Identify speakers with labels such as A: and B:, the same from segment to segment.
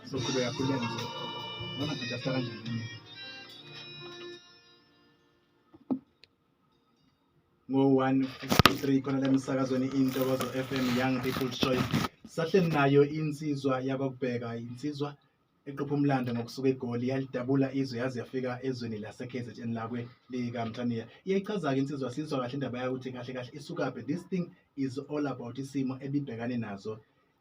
A: Soqhubeka khuleka nje. Noma ngijafta kanjani. ngo-153 khona lemisakazweni intokozo FM Young People's Choice sahleli nayo insizwa yakwakubheka insizwa eqopha umlando ngokusuka egoli yalidabula izwe yaze yafika ezweni lase-kzn lakwe likamthaniya iyayichaza-ke insizwa sizwa kahle indaba yakuthi kahle kahle isukaphi this thing is all about isimo ebibhekane nazo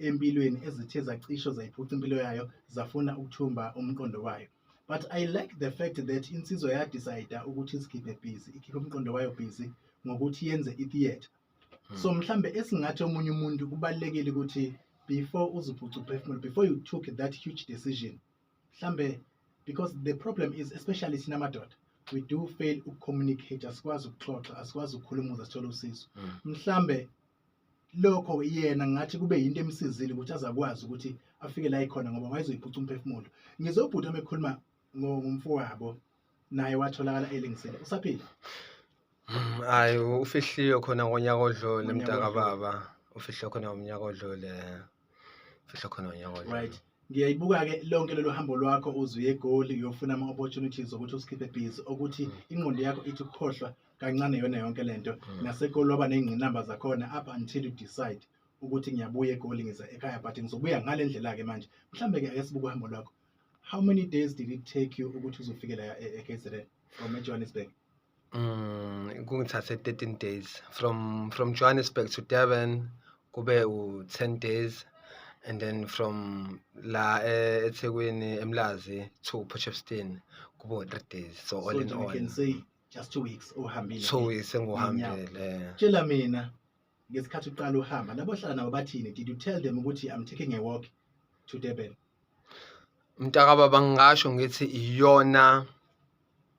A: empilweni ezithe zacisho zayiphuca impilo yayo zafuna ukuthumba umqondo wayo but i like the fact that insizwa yadicida ukuthi izikhiphe busy ikhiphe umqondo wayo busy ngokuthi yenze i-theatre hmm. so mhlambe esingathi omunye umuntu kubalulekile ukuthi before uziphuca uphefumulo before you took that huge decision mhlambe because the problem is especially thina madoda we do fail ukucommunicate asikwazi ukuxoxa asikwazi ukukhulumuza sithole usizo hmm. mhlambe lokho yena ngathi kube yinto emsizile ukuthi azakwazi ukuthi afike la ikhona ngoba wayezoyiphuca umphefumulo ngizobhuta mekhuluma ngomfowabo naye watholakala elingisile usaphila mm,
B: hayi ufihliwe khona ngonyaka odlule mntakababa ufihliwe khona ngomnyaka odlule fihla khona unyaka odlule. right ngiyayibuka-ke
A: lonke lolu hambo lwakho uzuye egoli uyofuna ama-opportunities okuthi usikhiphe busy okuthi Mm. ingqondo yakho ithi ukukhohlwa kancane yona yonke le nto Mm. nasegoli waba ney'ngqinamba zakhona up until you decide ukuthi ngiyabuya egoli ngiza ekhaya but ngizobuya ngale ndlela-ke manje mhlawumbe-ke ake sibuke uhambo lwakho how many days did it take you ukuthi uzofike la e- e-kzn from ejohannesburg Mm,
B: kungithathe 13 days from from Johannesburg to Durban kube u-10 days and then from la eh, eThekwini eMlazi to Port Shepstone kube u-3 days so all so in all can say just
A: two weeks ohambile two weeks
B: engiwuhambile tshela mina
A: ngesikhathi uqala uhamba labo hlala nabo bathini did you tell them ukuthi i'm taking a walk to Durban
B: mntakababa ngingasho ngithi iyona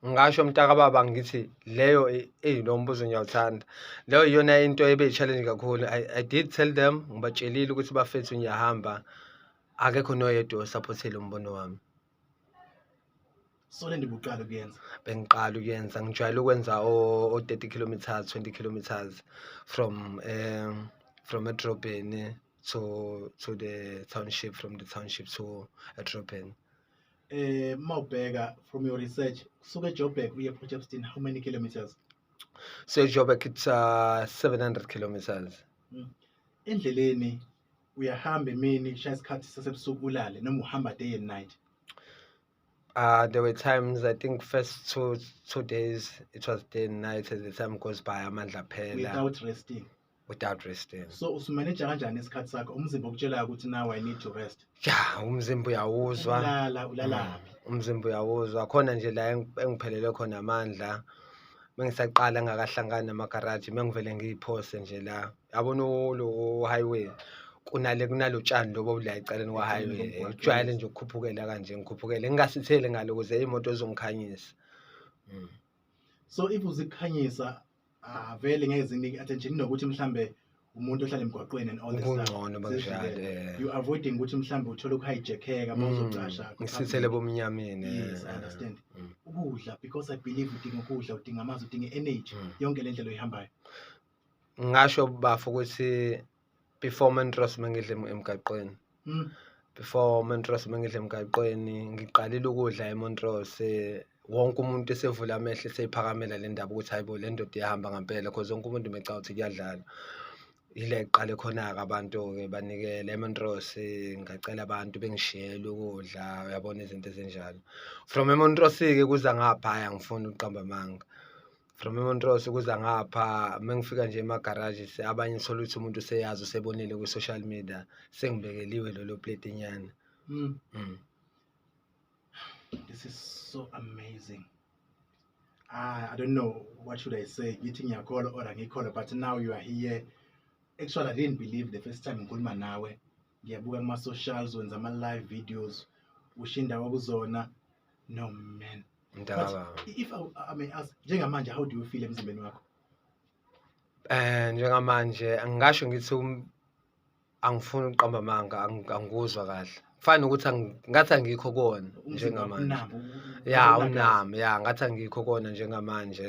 B: ngasho mntakababa ngithi leyo eyi lo mbuzo ngiyawuthanda leyo iyona into ebe yi-challenge kakhulu I, i did tell them ngibatshelile ukuthi bafethu ngiyahamba akekho noyedwa osaphothile umbono wami
A: sole ndibuqala ukuyenza bengiqala ukuyenza
B: ngijwayele ukwenza o-30 kilometers 20 kilometers from um from edrobheni to to the township from the township to edrobheni eh
A: mawubheka from your research kusuka eJoburg uye Port Shepstone how many kilometers so
B: eJoburg it's uh, 700 kilometers mm.
A: endleleni uyahamba emini shaya isikhathi sasebusuku ulale noma uhamba day and night
B: uh, there were times I think first two two days it was day and night as the time goes by amandla phela without resting without resting so usumaneja kanjani
A: isikhathi sakho umzimba okutshelayo ukuthi now i need to rest ya umzimba
B: uyawuzwa ulala ulalaphi
A: mm, umzimba uyawuzwa
B: khona nje la engiphelele khona amandla mengisaqala ngakahlangani namagaraji mengivele ngiyiphose nje la yabona lo highway kunale kunalo tshani lobo obula eceleni kwa-highway ujwayele nje ukukhuphukela kanje ngikhuphukele ngingasitheli ngalo ukuze imoto ezongikhanyisa mm.
A: so if uzikhanyisa ah vele ngeke zinike attention nokuthi mhlambe umuntu ohlala emgwaqweni and all this kungcono banjalo
B: eh. you avoiding ukuthi
A: mhlambe uthole ukuhijackeka uma mm, uzocasha ngisithele bomnyameni
B: yes i eh. understand
A: mm. ukudla because i believe udinga ukudla udinga amanzi udinga energy mm. yonke le ndlela oyihambayo
B: ngasho bafo ukuthi before mentrus mengidle emgaqweni mm. before mentrus mengidle emgaqweni ngiqalile ukudla emontrose eh, wonke umuntu esevula amehlo eseyiphakamela le ndaba ukuthi hayibo le ndoda iyahamba ngampela cause wonke umuntu meca ukuthi kuyadlala yile qale khona-ke abantu-ke banikele emontrose eh, ngacela abantu bengishiyele ukudla uyabona izinto ezinjalo from emontrose-ke kuza ngapha hhayi angifuni ukuqamba amanga from emontrose ukuza ngapha uma ngifika nje emagaraji abanye ngithole ukuthi umuntu useyazi usebonile kwi-social media sengibekeliwe lolo plate nyana mm. mm.
A: this is so amazing ah, i don't know what should i say ngithi ngiyakholwa or angikholwa but now you are here actually i didn't believe the first time ngikhuluma nawe ngiyabuka kuma socials wenza ama live videos ushinda kwakuzona no man mntakaba if I, I may ask njengamanje how do you feel emzimbeni wakho eh
B: njengamanje angisho ngithi um, angifuni ukuqamba amanga angikuzwa kahle kufana nokuthi ngathi angikho kona njengamanje ya unami ya ngathi angikho kona njengamanje